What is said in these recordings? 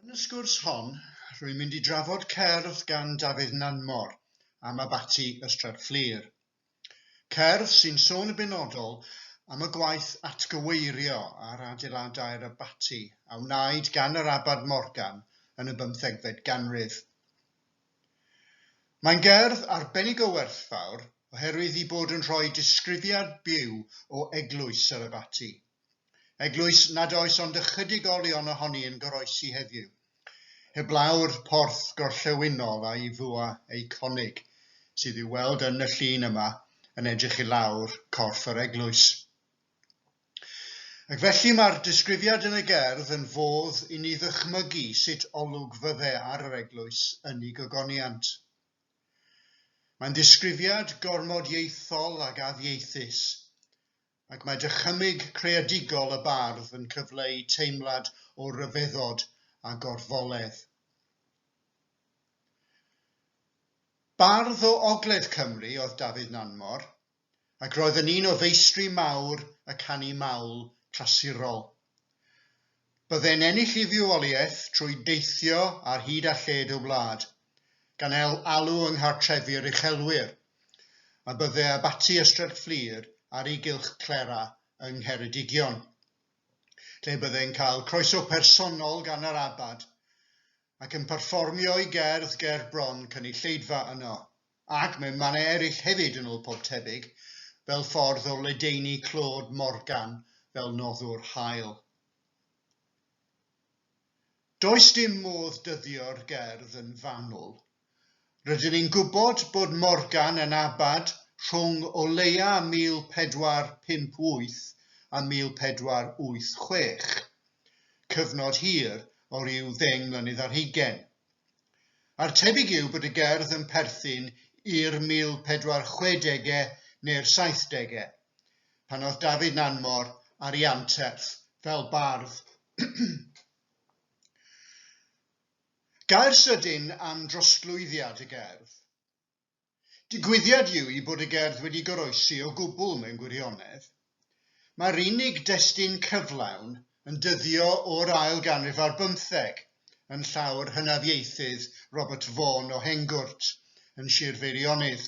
Yn y sgwrs hon, rwy'n mynd i drafod cerdd gan Dafydd Nanmor am Abaty Ystrad Fflur. Cerdd sy'n sôn yn benodol am y gwaith atgyweirio ar adeiladau'r abaty a wnaed gan yr Abad Morgan yn y bymthegfed ganrif. Mae'n gerdd arbennig o werthfawr oherwydd ei bod yn rhoi disgrifiad byw o eglwys yr abaty. Eglwys nad oes ond ychydig olion ohoni yn goroesi heddiw, heblaw'r porth gorllewinol a'i fwa eiconig, sydd i'w weld yn y llun yma yn edrych i lawr corff yr eglwys. Ac felly mae'r disgrifiad yn y gerdd yn fodd i ni ddychmygu sut olwg fydde ar yr eglwys yn ei gogoniant. Mae'n ddisgrifiad gormod ieithol ag addieithus, ac mae dychymyg creadigol y bardd yn cyfleu teimlad o ryfeddod a gorfoledd. Bardd o Ogledd Cymru oedd Dafydd Nanmor, ac roedd yn un o feistri mawr y canu mawl clasurol. Byddai'n ennill ei fywoliaeth trwy deithio ar hyd a lled y wlad, gan el alw yng nghartrefi'r uchelwyr, a byddai Abaty Ystrad Fflur ar ei gylch Clera yng Ngheredigion, lle byddai'n cael croeso personol gan yr Abad, ac yn perfformio'i gerdd ger bron cynulleidfa yno. Ac mewn mannau eraill hefyd yn ôl pob tebyg, fel ffordd o ledaenu Claude Morgan fel noddwr hael. Does dim modd dyddio'r gerdd yn fanwl. Rydyn ni'n gwybod bod Morgan yn abad rhwng o leia 1458 a 1486, cyfnod hir o ryw ddeng mlynedd ar hugain, a'r tebyg yw bod y gerdd yn perthyn i'r 1460au neu'r 70au, pan oedd Dafydd Nanmor ar ei anterth fel bardd. Gair sydyn am drosglwyddiad y gerdd. Digwyddiad yw hi bod y gerdd wedi goroesi o gwbl mewn gwirionedd. Mae'r unig destun cyflawn yn dyddio o'r ail ganrif ar bymtheg yn llawr hynafiaethydd Robert Vaughan o Hengwrt yn Sir Feirionnydd.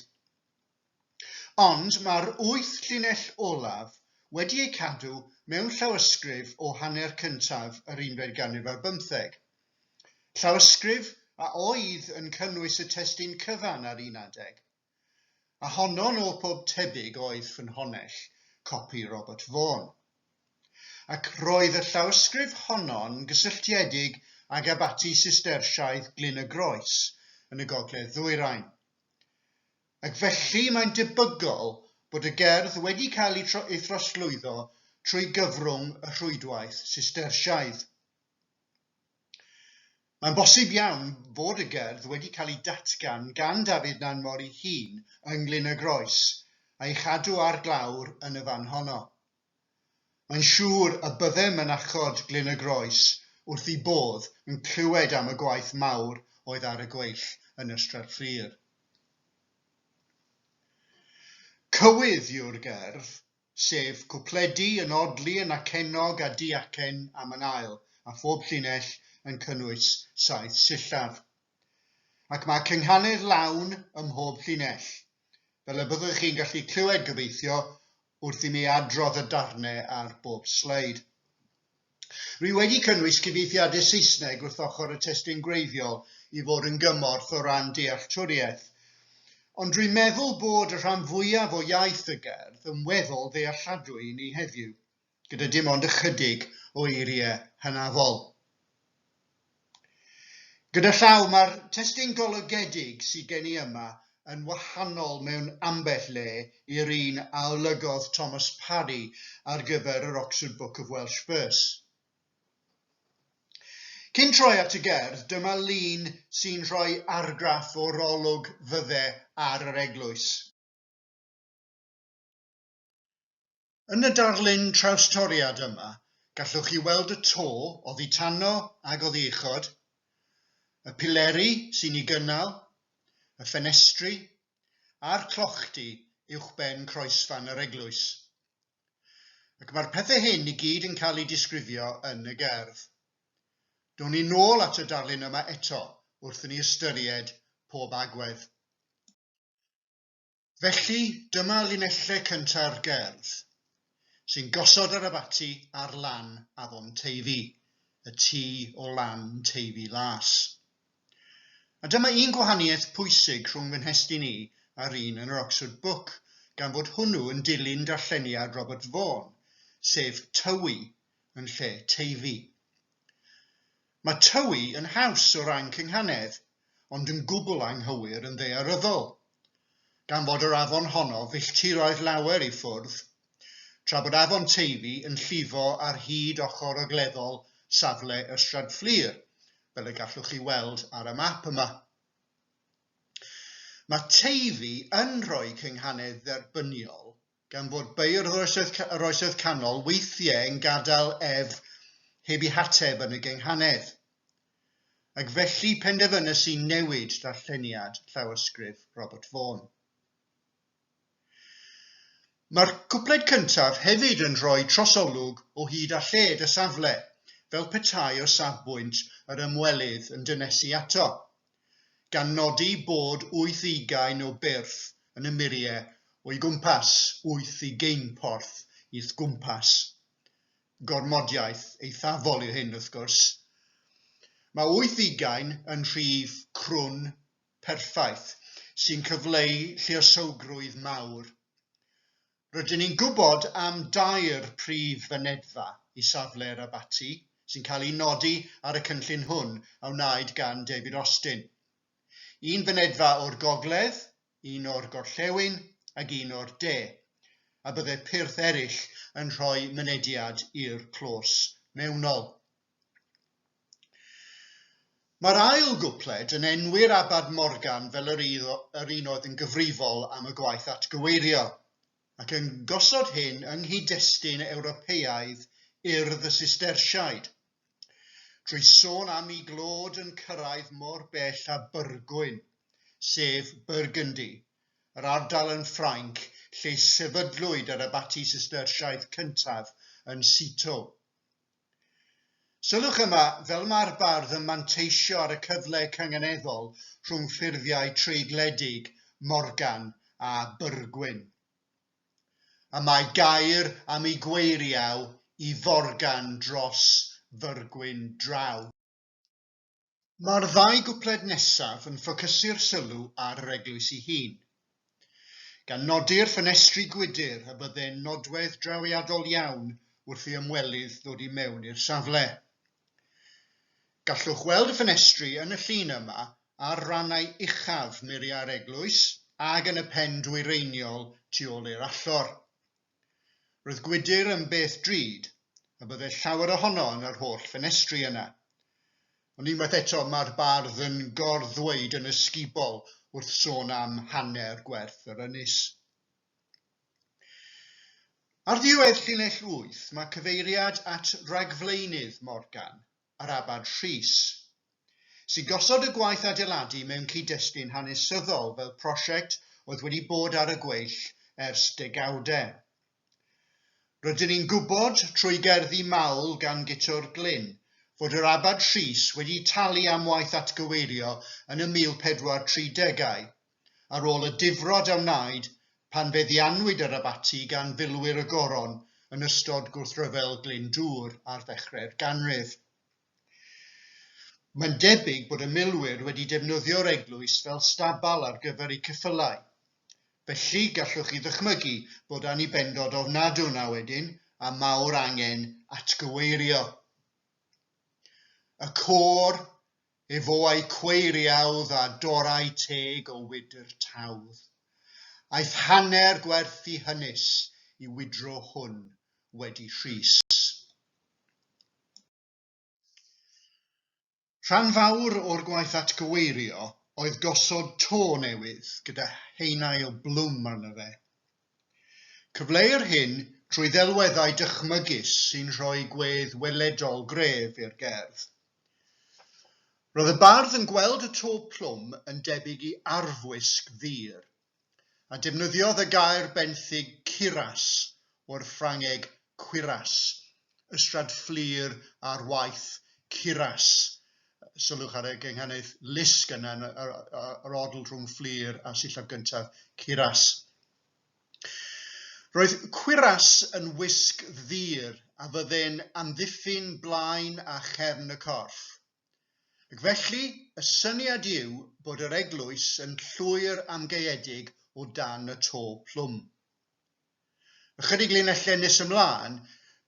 Ond mae'r wyth llinell olaf wedi eu cadw mewn llawysgrif o hanner cyntaf yr unfed ganrif ar bymtheg, Llawysgrif a oedd yn cynnwys y testun cyfan ar un adeg, a honno nôl pob tebyg oedd ffynhonnell copi Robert Vaughan. Ac roedd y llawysgrif honno'n gysylltiedig ag abaty Sistersiaidd Glyn y Groes yn y gogledd ddwyrain. Ac felly mae'n debygol bod y gerdd wedi cael ei throsglwyddo trwy gyfrwng y rhwydwaith Sistersiaidd. Mae'n bosib iawn fod y gerdd wedi cael ei datgan gan Dafydd Nanmor ei hun yng Nglyn y Groes, a'i chadw ar glawr yn y fan honno. Mae'n siŵr y bydde mynachod Glyn y Groes wrth eu bodd yn clywed am y gwaith mawr oedd ar y gweill yn Ystrad Fflur. Cywydd yw'r gerdd, sef cwpledi yn odli yn acennog a diacen am yn ail, a phob llinell yn cynnwys saith sillaf. Ac mae cynghanedd lawn ym mhob llinell, fel y byddwch chi'n gallu clywed gobeithio wrth i mi adrodd y darnau ar bob sleid. Rwy wedi cynnwys cyfieithiadau Saesneg wrth ochr y testun gwreiddiol i fod yn gymorth o ran dealltwriaeth. Ond rwy'n meddwl bod y rhan fwyaf o iaith y gerdd yn weddol ddealladwy i ni heddiw, gyda dim ond ychydig o eiriau hynafol. Gyda llaw, mae'r testun golygedig sydd gen i yma yn wahanol mewn ambell le i'r un a olygodd Thomas Parry ar gyfer yr Oxford Book of Welsh Verse. Cyn troi at y gerdd, dyma lun sy'n rhoi argraff o'r olwg fydde ar yr eglwys. Yn y darlun trawstoriad yma, gallwch chi weld y to oddi tano ag oddi uchod, y pileri sy'n ei gynnal, y ffenestri a'r clochdy uwchben croesfan yr eglwys. Ac mae'r pethau hyn i gyd yn cael eu disgrifio yn y gerdd. Down ni nôl at y darlun yma eto wrth i ni ystyried pob agwedd. Felly, dyma linellau cyntaf gerdd, sy'n gosod yr abaty ar lan afon Teifi, y tu o lan Teifi Las. A dyma un gwahaniaeth pwysig rhwng fy nhestun i a'r un yn yr Oxford Book, gan fod hwnnw yn dilyn darlleniad Robert Vaughan, sef Tywi yn lle Teifi. Mae Tywi yn haws o ran cynghanedd, ond yn gwbl anghywir yn ddaearyddol, gan fod yr afon honno filltiroedd lawer i ffwrdd, tra bod afon Teifi yn llifo ar hyd ochr ogleddol safle Ystrad Fflur, fel y gallwch chi weld ar y map yma. Mae Teifi yn rhoi cynghanedd dderbyniol Gan fod beirdd yr Oesoedd Canol weithiau yn gadael ef heb ei hateb yn y gynghanedd. Ac felly penderfynais i newid darlleniad llawysgrif Robert Vaughan. Mae'r cwpled cyntaf hefyd yn rhoi trosolwg o hyd a lled y safle, fel petai o safbwynt yr ymwelydd yn dynesu ato, gan nodi bod wyth ugain o byrth yn y murie o'i gwmpas, wyth ugein porth i'th gwmpas. Gormodiaeth eithafol yw hyn, wrth gwrs. Mae wyth ugain yn rhif crwn perffaith, sy'n cyfleu lluosowgrwydd mawr. Rydyn ni'n gwybod am dair prif fynedfa i safle'r abaty sy'n cael eu nodi ar y cynllun hwn a wnaed gan David Austin. Un fynedfa o'r gogledd, un o'r gorllewin ac un o'r de, a byddai pyrth eraill yn rhoi mynediad i'r clos mewnol. Mae'r ail gwpled yn enwi'r Abad Morgan fel yr yr un oedd yn gyfrifol am y gwaith atgyweirio, ac yn gosod hyn yng nghyd-destun Ewropeaidd Urdd y Sistersiaid, trwy sôn am i glod yn cyrraedd mor bell â Byrgwyn, sef Burgundy, yr ardal yn Ffrainc lle sefydlwyd yr abaty Sistersiaidd cyntaf yn Citeaux. Sylwch yma, fel mae'r bardd yn manteisio ar y cyfle cynganeddol rhwng ffurfiau treigledig Morgan a Byrgwyn. Y mae gair am y gweiriau i forgan dros fyrgwyn draw. Mae'r ddau gwpled nesaf yn ffocysu'r sylw ar yr eglwys ei hun, gan nodi'r ffenestri gwydr a bydde'n nodwedd drawiadol iawn wrth i ymwelydd ddod i mewn i'r safle. Gallwch weld y ffenestri yn y llun yma ar rannau uchaf muriau'r eglwys ac yn y pen dwyreiniol tu ôl i'r allor. Roedd gwydr yn beth drud, a byddai llawer ohono yn yr holl ffenestri yna. Ond unwaith eto mae'r bardd yn gor-ddweud yn ysgubol wrth sôn am hanner gwerth yr ynys. Ar ddiwedd llinell wyth mae cyfeiriad at ragflaenydd Morgan, a'r Abad Rhys, sy'n gosod y gwaith adeiladu mewn cyd-destun hanesyddol fel prosiect oedd wedi bod ar y gweill ers degawdau. Rydyn ni'n gwybod, trwy gerddi mawl gan Guto'r Glyn, fod yr Abad Rhys wedi talu am waith atgyweirio yn y 1430au, ar ôl y difrod a wnaed pan feddiannwyd yr abaty gan filwyr y Goron yn ystod gwrthryfel Glyndŵr ar ddechrau'r ganrif. Mae'n debyg bod y milwyr wedi defnyddio'r eglwys fel stabal ar gyfer eu ceffylau. Felly, gallwch chi ddychmygu bod annibendod ofnadw yna wedyn a mawr angen atgyweirio. Y côr Efo ei cweiriawdd a dorau teg o wydr tawdd. Aeth hanner gwerth i hynys i wydro hwn wedi Rhys. Rhan fawr o'r gwaith atgyweirio oedd gosod to newydd gyda henail blwm arno fe. Cyfleuir hyn trwy ddelweddau dychmygus sy'n rhoi gwedd weledol gref i'r gerdd. Roedd y bardd yn gweld y to plwm yn debyg i arfwisg ddur, a defnyddiodd y gair benthyg cuirass o'r Ffrangeg cuirasse Ystrad Fflur ar waith, Curas. Sylwch ar y gynghanydd lusg yna, yr odl rhwng Fflur a sillaf gyntaf, Curas. Roedd Curas yn wisg ddur a fydde'n amddiffyn blaen a chefn y corff. Ac felly, y syniad yw bod yr eglwys yn llwyr amgaeedig o dan y to plwm. Ychydig linellau nes ymlaen,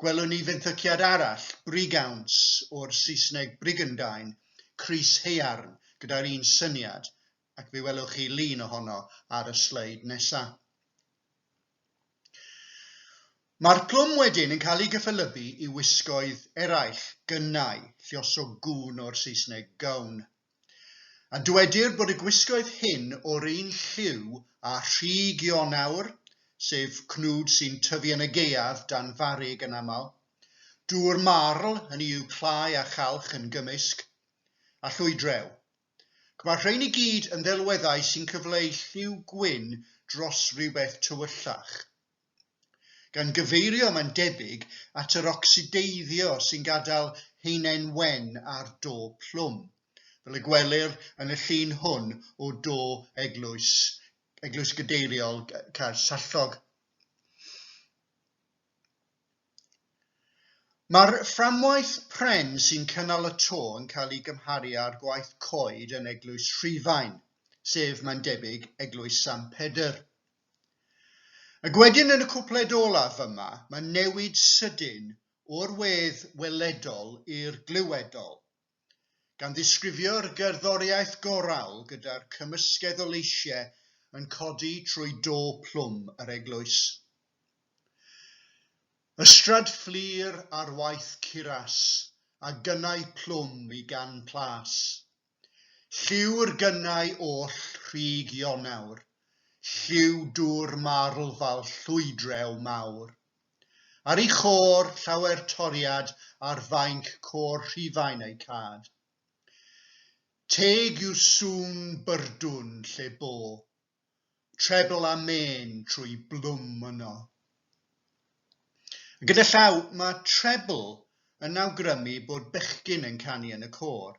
gwelwn ni fenthyciad arall, brigawns, o'r Saesneg brigandine, crys haearn, gyda'r un syniad, ac fe welwch chi lun ohono ar y sleid nesaf. Mae'r plwm wedyn yn cael ei gyffelybu i wisgoedd eraill, gynnau, lluosog gŵn o'r Saesneg gown, A dywedir bod y gwisgoedd hyn o'r un lliw â rhi Gionawr, sef cnwd sy'n tyfu yn y gaeaf dan farrug yn aml. Dŵr marl, hynny yw clai a chalch yn gymysg, a llwydrew. Ac mae'r rhain i gyd yn ddelweddau sy'n cyfleu lliw gwyn dros rywbeth tywyllach. gan gyfeirio, mae'n debyg, at yr ocsideiddio sy'n gadael haenen wen ar do plwm, fel y gwelir yn y llun hwn o do eglwys, Eglwys Gadeiriol Caersallog. Mae'r fframwaith pren sy'n cynnal y to yn cael ei gymharu â'r gwaith coed yn Eglwys Rhufain, sef, mae'n debyg, Eglwys San Pedr. Ac wedyn yn y cwpled olaf yma, mae newid sydyn o'r wedd weledol i'r glywedol, gan ddisgrifio'r gerddoriaeth gorawl gyda'r cymysgedd o leisiau yn codi trwy do plwm yr eglwys. Ystrad fflur ar waith curas, a gynnau plwm i gan Plas. Lliw yr gynnau oll rhug Ionawr, Lliw dŵr marl fal llwydrew mawr. Ar ei chôr llawer toriad Ar fainc côr Rhufain ei cad. Teg yw sŵn byrdwn lle bo Trebl a mên trwy blwm yno. Gyda llaw, mae trebl yn awgrymu bod bechgyn yn canu yn y côr,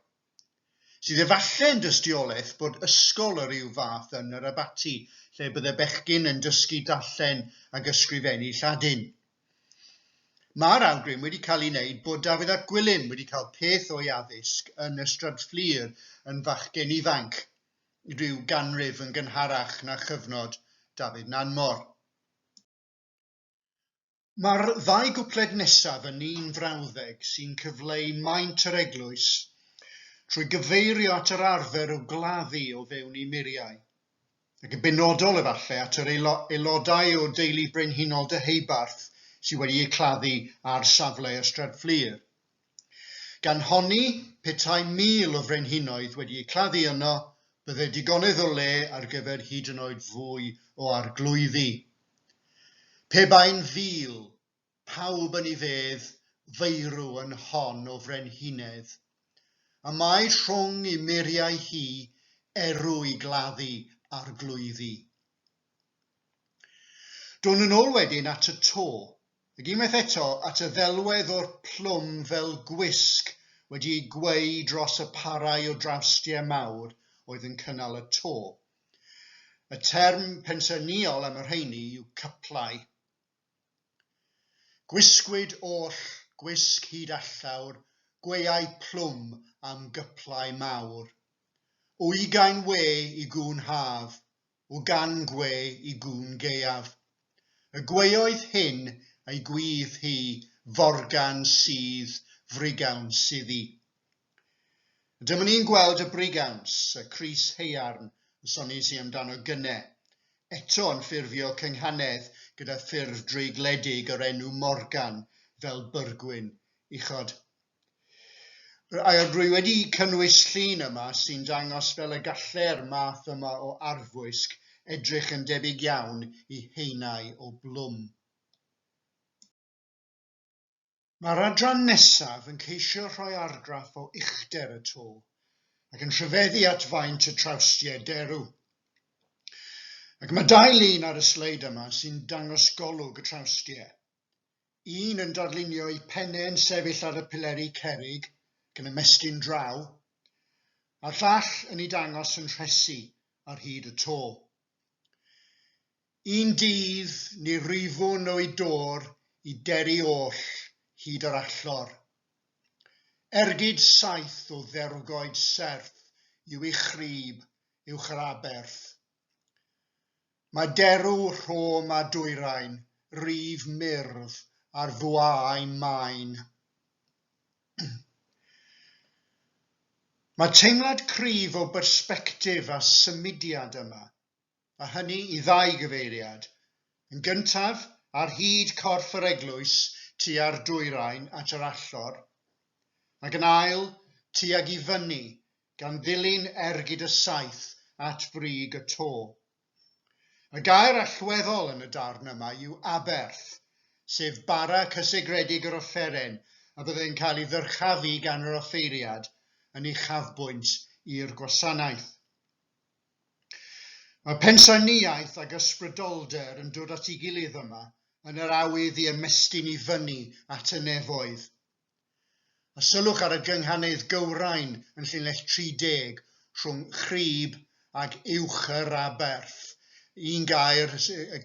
sydd efallai yn dystiolaeth bod ysgol o ryw fath yn yr abaty lle bydde bechgyn yn dysgu darllen ac ysgrifennu Lladin. Mae'r awgrym wedi cael ei wneud bod Dafydd ap Gwilym wedi cael peth o'i addysg yn Ystrad Fflur yn fachgen ifanc, rhyw ganrif yn gynharach na chyfnod David Nanmor. Mae'r ddau gwpled nesaf yn un frawddeg sy'n cyfleu maint yr eglwys trwy gyfeirio at yr arfer o gladdu o fewn ei muriau, ac yn benodol efallai at yr aelodau o deulu brenhinol Deheubarth sydd wedi eu claddu ar safle Ystrad Fflur. Gan honni, petai mil o frenhinoedd wedi eu claddu yno, bydde digonedd o le ar gyfer hyd yn oed fwy o arglwyddi. Pe bai'n fil, pawb yn ei fedd, feirw yn hon o frenhinedd. A mae rhwng ei muriau hi erw i gladdu arglwyddi. Dôn yn ôl wedyn at y to, ac unwaith eto at y ddelwedd o'r plwm fel gwisg wedi'i gweu dros y parau o drawstiau mawr oedd yn cynnal y to. Y term pensaernïol am y rheiny yw cyplau. Gwisgwyd oll gwisg hyd allaw'r gweuau plwm am gyplau mawr. O ugain we i gŵn haf, o gan gwe i gŵn gaeaf. Y gweoedd hyn ei gwydd hi forgan sydd frigawns iddi. Dyma ni'n gweld y brigawns, y crys haearn y sonies i amdano gynne, eto yn ffurfio cynghanedd gyda ffurf dreigledig yr enw Morgan fel byrgwin uchod. Rwy wedi cynnwys llun yma sy'n dangos fel y gallai'r math yma o arfwisg edrych yn debyg iawn i haenau o blwm. Mae'r adran nesaf yn ceisio rhoi argraff o uchder y to ac yn rhyfeddu at faint y trawstiau derw. Ac mae dau lun ar y sleid yma sy'n dangos golwg y trawstiau. Un yn darlunio ei phenne yn sefyll ar y pileri cerrig yn ymestyn draw, a'r llall yn ei dangos yn rhesi ar hyd y to. Un dydd, ni rwyfwn o'i dôr i deri oll hyd yr allor. Ergyd saith o dderwgoed serth yw ei chryb uwch yr aberth, Mae derw rhom a dwyrain, rif murf ar fwaau main. Mae teimlad cryf o bersbectif a symudiad yma, a hynny i ddau gyfeiriad. Yn gyntaf, ar hyd corff yr eglwys tua'r dwyrain at yr allor, ac yn ail, tuag i fyny gan ddilyn ergyd y saith at brig y to. Y gair allweddol yn y darn yma yw aberth, sef bara cysegredig yr offeren a fyddai'n cael ei ddyrchafu gan yr offeiriad yn uchafbwynt i'r gwasanaeth. Mae pensaernïaeth ac ysbrydolder yn dod at ei gilydd yma, yn yr awydd i ymestyn i fyny at y nefoedd, A sylwch ar y gynghanedd gywrain yn llinell 30 rhwng Chrib ag Uwch-yr-aberth, un gair,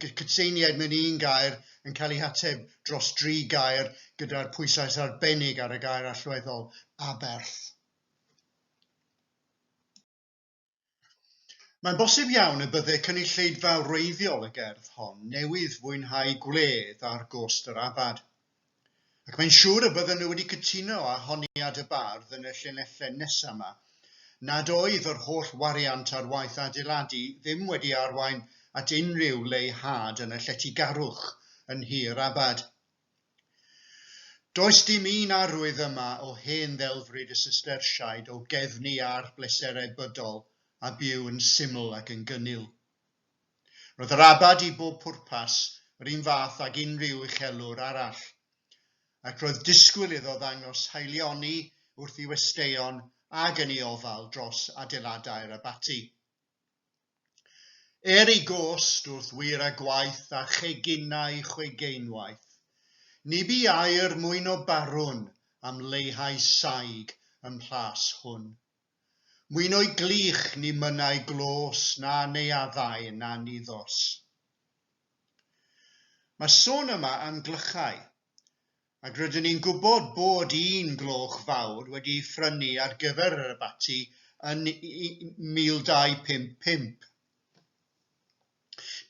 cytseiniaid mewn un gair yn cael eu hateb dros dri gair gyda'r pwyslais arbennig ar y gair allweddol, aberth. Mae'n bosib iawn y bydde cynulleidfa wreiddiol y gerdd hon newydd fwynhau gwledd ar gost yr abad. Ac mae'n siŵr y bydden nhw wedi cytuno â honiad y bardd yn y llinellau nesaf 'ma, nad oedd yr holl wariant ar waith adeiladu ddim wedi arwain at unrhyw leihâd yn y lletygarwch yn nhir abad. Does dim un arwydd yma o hen ddelfryd y Sistersiaid o gefnu ar bleserau bydol a byw yn syml ac yn gynnil. Roedd yr abad i bob pwrpas yr un fath ag unrhyw uchelwr arall, ac roedd disgwyl iddo ddangos haelioni wrth i westeion ag yn i ofal dros adeiladau'r abaty. Er ei gost wrth wir a gwaith a cheginau chwegeinwaith, ni bu air mwyn o barwn am leihau saig ym mhlas hwn. Mwyn o'i glich ni mynnai glos na neuaddau na niddos. Mae sôn yma am glychau. Ac rydyn ni'n gwybod bod un gloch fawr wedi ei phrynu ar gyfer yr abaty yn 1255.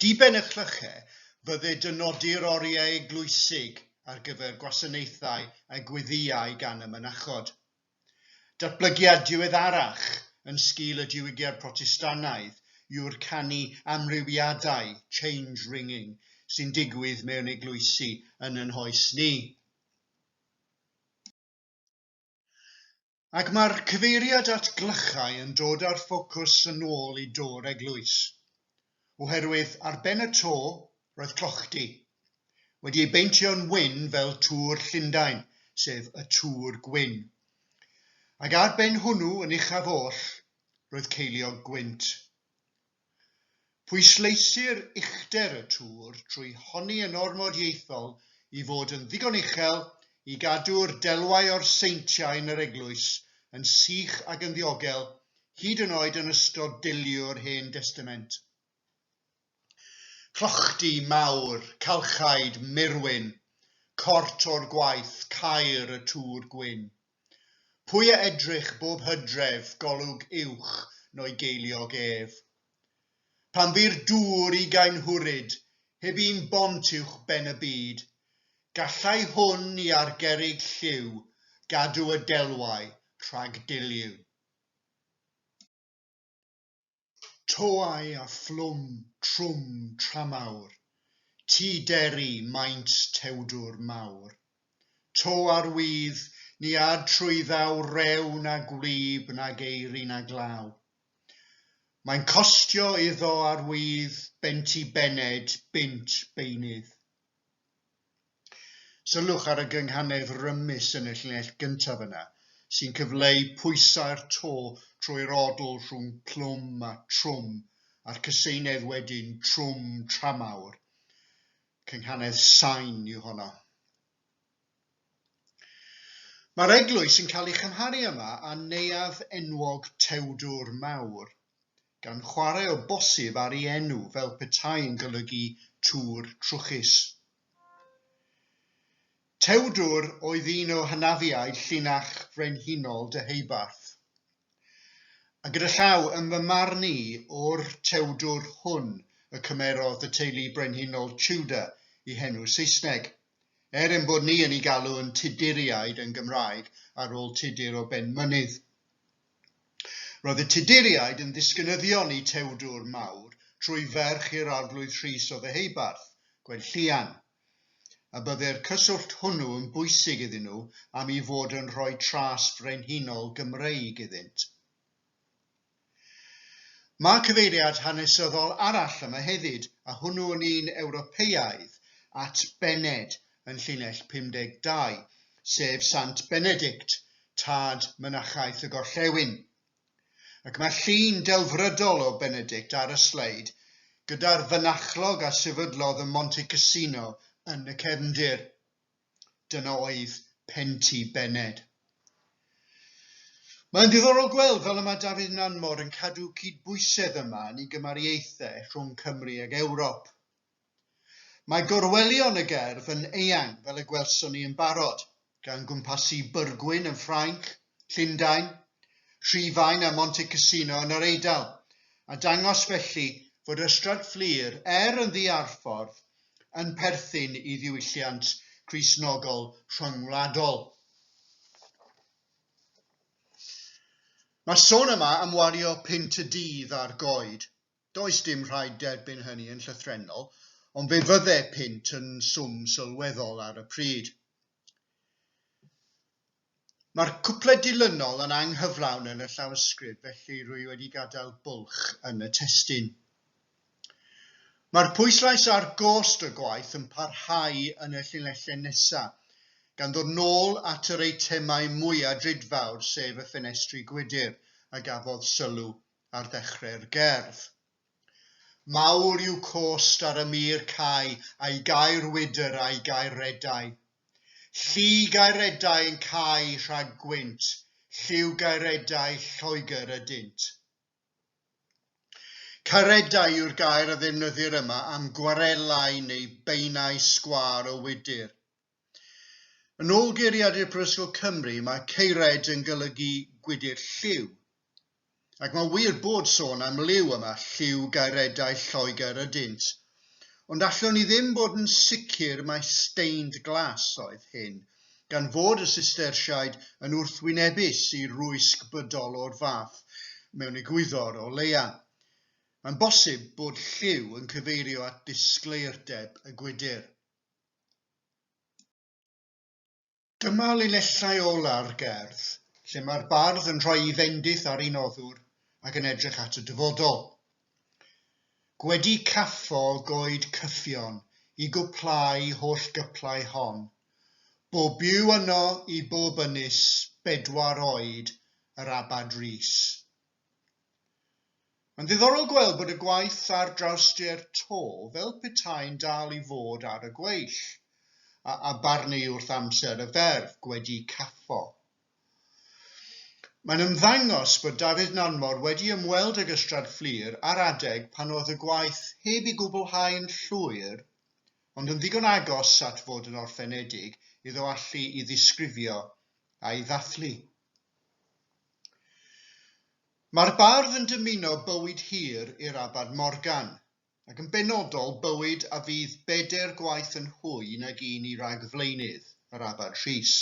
Diben y clyche fydde dynodi'r oriau eglwysig ar gyfer gwasanaethau a gweddïau gan y mynachod. Datblygiad diweddarach yn sgil y Diwygiad Protestannaidd yw'r canu amrywiadau, change ringing, sy'n digwydd mewn eglwysi yn yn hoes ni. Ac mae'r cyfeiriad at glychau yn dod â'r ffocws yn ôl i do'r eglwys. oherwydd ar ben y to roedd clochdy, wedi ei beintio'n wyn fel Tŵr Llundain, sef y Tŵr Gwyn. Ac ar ben hwnnw yn uchaf oll, roedd ceiliog gwynt. Pwysleisir uchder y tŵr trwy honni yn ormod ieithol i fod yn ddigon uchel i gadw'r delwau o'r seintiau yn yr eglwys yn sych ac yn ddiogel hyd yn oed yn ystod deilliwr Hen Destament. Clochdy mawr, calchaid, murwyn, cort o'r gwaith, caer y tŵr gwyn. Pwy a edrych bob hydref, golwg uwch no'i geiliog ef. Pan fu'r dŵr ugain hwryd, heb un bont uwch ben y byd, gallai hwn i ar gerrig lliw gadw y delwau rhag deilliw. Toau a phlwm trwm tramawr, Ti deri maint tewdwr mawr. To ar wydd, ni ad trwy ddaw Rew na gwlyb na geiri na glaw. Mae'n costio iddo ar wydd Benti bened, bunt beunydd. Sylwch ar y gynghanedd rymus yn y llinell gyntaf yna, sy'n cyfleu pwysau'r to trwy'r odl rhwng plwm a trwm a'r cyseinedd wedyn trwm tramawr. Cynghanedd sain yw honno. Mae'r eglwys yn cael ei chymharu yma â neuadd enwog Tewdwr Mawr, gan chwarae o bosib ar ei enw fel petai'n golygu tŵr trwchus. Tewdwr oedd un o hynafiaid llinach frenhinol Deheubarth, a gyda llaw yn fy marn i o'r Tewdwr hwn y cymerodd y teulu brenhinol Tudor i henw Saesneg, er ein bod ni yn ei galw yn Tuduriaid yn Gymraeg ar ôl Tudur o Benmynydd. Roedd y Tuduriaid yn ddisgynyddion i Tewdwr Mawr trwy ferch i'r Arglwydd Rhys o Ddeheubarth, Gwenllian, a byddai'r cyswllt hwnnw yn bwysig iddyn nhw am i fod yn rhoi tras frenhinol Gymreig iddynt. Mae cyfeiriad hanesyddol arall yma hefyd, a hwnnw yn un Ewropeaidd at Bened yn llinell 52, sef Sant Benedict, tad Mynachaeth y Gorllewin. Ac mae llun delfrydol o Benedict ar y sleid, gyda'r fynachlog a sefydlodd ym Monte Cassino yn y cefndir. Dyna oedd Penti Bened. Mae'n ddiddorol gweld fel y mae Dafydd Nanmor yn cadw cydbwysedd yma yn ei gymariaethau rhwng Cymru ag Ewrop. Mae gorwelion y gerdd yn eang fel y gwelson ni yn barod, gan gwmpasu Byrgwyn yn Ffrainc, Llundain, Rhufain a Monte Cassino yn yr Eidal, a dangos felly fod Ystrad Fflur, er yn ddi-arffordd, yn perthyn i ddiwylliant Cristnogol rhyngwladol. Mae'r sôn yma am wario punt y dydd ar goed, Does dim rhaid derbyn hynny yn llythrennol, ond fe fydde punt yn swm sylweddol ar y pryd. Mae'r cwpled dilynol yn anghyflawn yn y llawysgrif, felly rwy wedi gadael bwlch yn y testun. Mae'r pwyslais ar gost y gwaith yn parhau yn y llinellau nesaf, gan ddod nôl at yr eitemau mwya' drudfawr, sef y ffenestri gwydr, a gafodd sylw ar ddechrau'r gerdd. Mawr yw cost ar y mur cau a'i gair wydr a'i gair redau. Llu gairedau yn cau rhag gwynt, lliw gairedau Lloegr ydynt. Caredau yw'r gair a ddefnyddir yma am gwarelau neu beinau sgwâr o wydr. Yn ôl geiriadur Prifysgol Cymru, mae Ceired yn golygu gwydr lliw. Ac mae'n wir bod sôn am liw yma, lliw gaeredau Lloegr ydynt. Ond allwn ni ddim bod yn sicr mai stained glass oedd hyn, gan fod y Sistersiaid yn wrthwynebus i rwysg bydol o'r fath mewn egwyddor o leia. Mae'n bosib bod lliw yn cyfeirio at ddisgleirdeb y gwydr. Dyma linellau ola'r gerdd, lle mae'r bardd yn rhoi ei fendith ar ei noddwr ac yn edrych at y dyfodol. Gwedi caffo goed cyffion i gwplau holl gyplau hon, bob byw yno i bob ynys bedwar oed yr Abad Rees. Mae'n ddiddorol gweld bod y gwaith ar drawstir to fel petai'n dal i fod ar y gweill, a a barnu wrth amser y ferf, gwedi caffo. Mae'n ymddangos bod Dafydd Nanmor wedi ymweld ag Ystrad Fflur ar adeg pan oedd y gwaith heb i gwblhau yn llwyr, ond yn ddigon agos at fod yn orffenedig iddo allu i ddisgrifio a'i ddathlu. Mae'r bardd yn dymuno bywyd hir i'r Abad Morgan, ac yn benodol bywyd a fydd bedair gwaith yn hwy nag un i ragflaenydd yr Abad Rhys.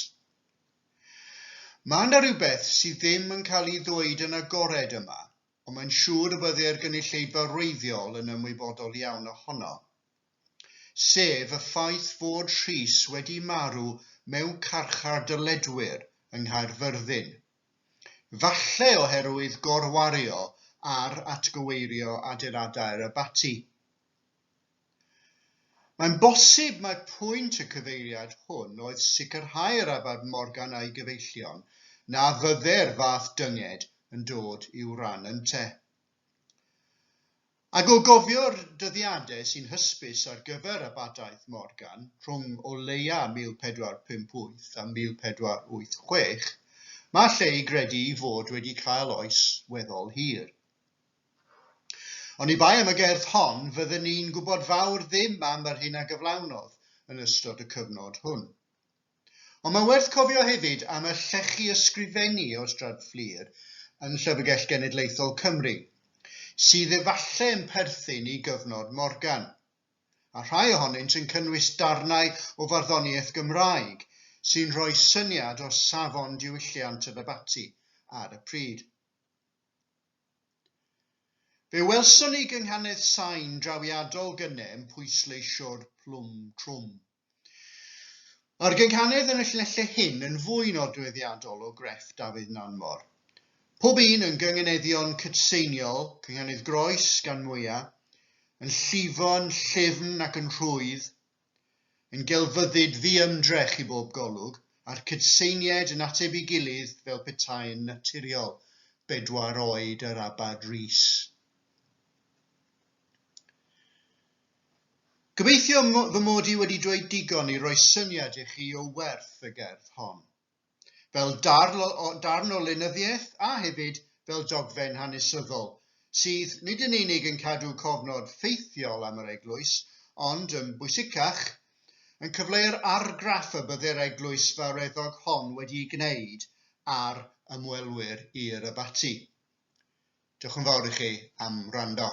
Mae 'na rywbeth sydd ddim yn cael ei ddweud yn agored yma, ond mae'n siŵr y bydde'r gynulleidfa wreiddiol yn ymwybodol iawn ohono. sef y ffaith fod Rhys wedi marw mewn carchar dylledwyr yng Nghaerfyrddin, falle oherwydd gorwario ar atgyweirio adeiladau'r abaty. Mae'n bosib mai pwynt y cyfeiriad hwn oedd sicrhau'r Abad Morgan a'i gyfeillion na fyddai'r fath dynged yn dod i'w ran ynte. Ac o gofio'r dyddiadau sy'n hysbys ar gyfer abadaeth Morgan rhwng o leia 1458 a 1486, mae lle i gredu ei fod wedi cael oes weddol hir. Oni bai am y gerdd hon, fydden ni'n gwybod fawr ddim am yr hyn a gyflawnodd yn ystod y cyfnod hwn. Ond mae'n werth cofio hefyd am y llechi ysgrifennu o Ystrad Fflur yn Llyfrgell Genedlaethol Cymru, sydd efallai yn perthyn i gyfnod Morgan, a rhai ohonynt yn cynnwys darnau o farddoniaeth Gymraeg sy'n rhoi syniad o safon diwylliant yr abaty ar y pryd. Fe welson ni gynghanedd sain drawiadol Gynem pwysleisio'r plwm trwm. Mae'r gynghanedd yn y llinellau hyn yn fwy nodweddiadol o grefft Dafydd Nanfor. Pob un yn gynganeddion cydseiniol, cynghanedd groes gan mwya, yn llifo, yn llyfn ac yn rhwydd, yn gelfyddyd ddiymdrech i bob golwg, a'r cydseinied yn ateb i gilydd fel petai yn naturiol, bedwar oed yr abad Rhys. Gobeithio fy mod i wedi dweud digon i roi syniad i chi o werth y gerdd hon, fel darn o lenyddiaeth a hefyd fel dogfen hanesyddol sydd nid yn unig yn cadw cofnod ffeithiol am yr eglwys, ond, yn bwysicach, yn cyfleu'r argraff y bydde'r eglwys fawreddog hon wedi'i gwneud ar ymwelwyr i'r abaty. Diolch yn fawr i chi am wrando.